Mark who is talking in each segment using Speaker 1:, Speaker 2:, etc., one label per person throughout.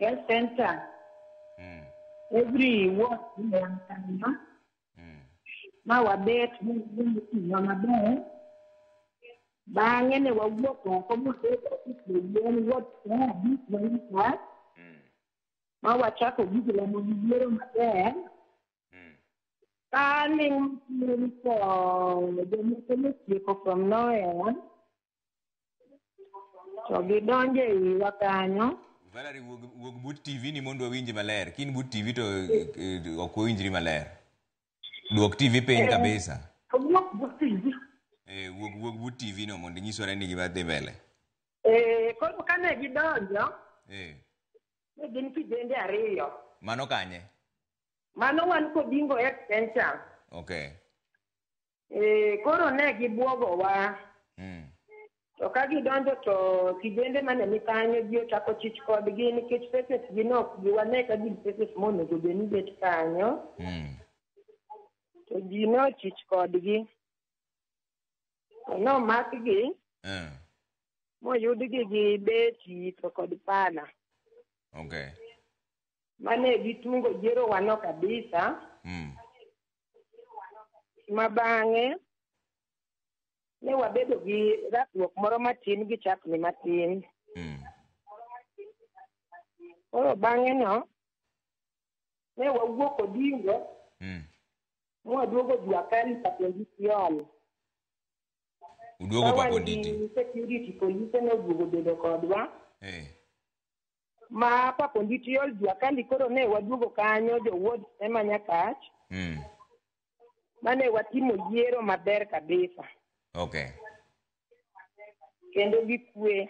Speaker 1: health center Mm. every ward iyankanyo Mm. ma wabet moting'wa maber bang'e ne wawuok oko mobet ofisiyien ward saa abich maika Mm. ma wachako gigo lamo gi yiero maber Mm. Darling, to the mechanic from nowhere, To gidonjo e wiwa kanyo. Valerie wuog,
Speaker 2: wuog but TV ni mondo wawinji maler. Kin but TV to eh, eh, ok wawinjri maler. Duok TV piny kabisa. Owuok but
Speaker 1: TV. Eh, wuog wuog
Speaker 2: but TV no mondo inyisore ni gima dhi mbele. Eh,
Speaker 1: koro kane gidonjo, Eh, ne gin kijende ariyo. mano kanye?
Speaker 2: Mano
Speaker 1: wan kodingo extension. Okay. Eh, koro ne gibwogowa. Mm. To ka gidonjo to kijende mane ni kanyo ji ochako chich kodgi nikech faces gi ne ok giwane ka gin faces monego bed ni bet kanyo. Mm. To ji ne ochich kodgi. To nomakgi Eh. moyudgi gi beti to kod pala. Okay. Mane gitungo jierowa no kabisa. Mm. ma bang'e ne wabedo gi rakruok moro matin gi chapni matin. Mm. Koro bang'e no, ne wawuok Odingo Mm. mwaduogo Juakali Papendisiol.
Speaker 2: Uduogo Ka wan gi Paponditi. security polise
Speaker 1: noduogo bedo kodwa. Eh. ma Papondi Tiol Juakali koro ne waduogo kanyo jo ward ema Nyakach Mm. mane watimo yiero maber kabisa Okay. kendo gi kwe.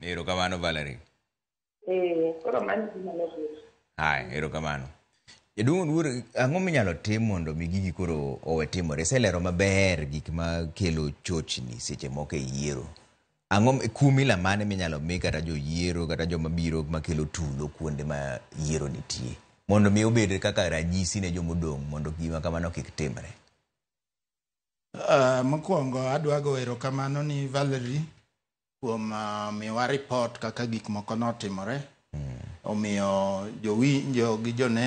Speaker 1: Erokamano
Speaker 2: Valerie. Eh,
Speaker 1: koro mano gima nobedo. Haya, erokamano.
Speaker 2: Jaduong' Oluor, ang'o minyalo tim mondo mi gigi koro owe timore? Iselero maber gik ma kelo chochni seche moko e yiero. Ang'o m- kum ila mane minyalo mi kata joyiero kata joma biro makelo tulo kuonde ma yiero nitie mondo mi obed kaka ranyisi ne jomodong' mondo gima kamano kik timre? Ah,
Speaker 3: mokwongo adwa go erokamano ni Valerie kuom ah, miwa report kaka gik moko notimore omiyo jowinjo gi joneno